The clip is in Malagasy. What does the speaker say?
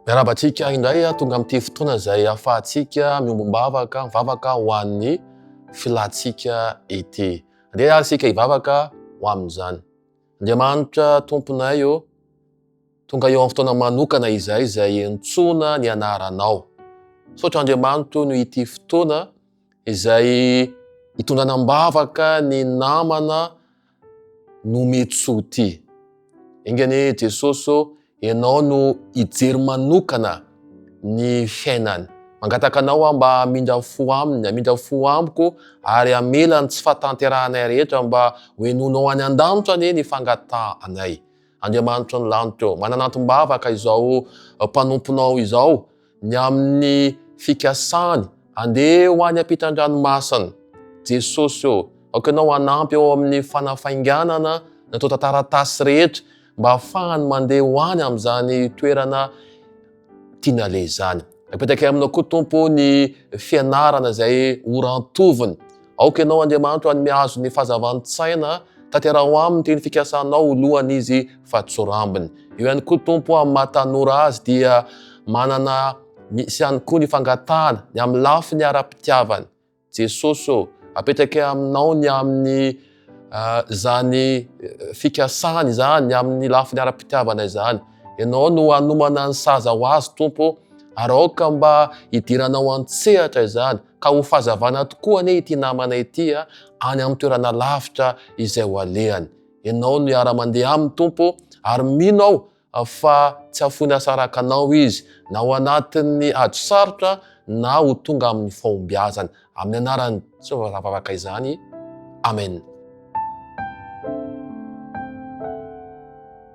Miarahaba antsika indray ah, tonga amin'ity fotoana izay ahafahantsika miombom-bavaka, mivavaka ho an'ny filantsika ity. Andeha ary isika hivavaka ho amin'izany. Andriamanitra tomponay ô, oh, tonga eo amin'ny fotoana manokana izay izay entsoina ny anaranao. Saotra Andriamanitro no ity fotoana izay hitondranam-bavaka ny namana no mety soa ty. Enga anie Jesosy ô, ianao no hijery manokana ny fiainany. Mangataka anao aho mba hamindra fo aminy, hamindra fo amiko ary hamela ny tsy fahatanterahanay rehetra mba ho henoinao any an-danitra anie ny fangatahanay. Andriamanitry ny lanitra ô, manana antom-bavaka izao mpanomponao izao, ny amin'ny fikasany handeha ho any ampitan-dranomasina. Jesosy ô, aoka Ianao hanampy ao amin'ny fanafainganana ny antontan-taratasy rehetra mba hahafahany mandeha ho any amin'izany toerana tiany haleha izany. Apetrakay Aminao koa Tompo ny fianarana izay orantoviny. Aoka Ianao, Andriamanitro, hanome azy ny fahazavan-tsaina, tanteraho aminy ity ny fikasanao ho lohan'izy fa tsy ho rambony. Eo ihany koa, Tompo, amin'ny maha tanora azy dia manana misy ihany koa ny fangatahana ny amin'ny lafiny ara-pitiavana. Jesosy ô, apetrakay Aminao ny amin'ny izany fikasany izany, ny amin'ny lafiny ara-pitiavana izany. Ianao no hanomana ny saza ho azy, Tompo, ary aoka mba hidiranao an-tsehatra izany. Ka ho fahazavana tokoa anie ity namana ity any amin'ny toerana lavitra izay ho alehany. Ianao no hiara-mandeha aminy Tompo ary mino aho fa tsy hafoiny hasaraka anao izy na ho anatin'ny ady sarotra na ho tonga amin'ny fahombiazana. Amin'ny anaran'i Jesoa vao zavavaka izany. Amen.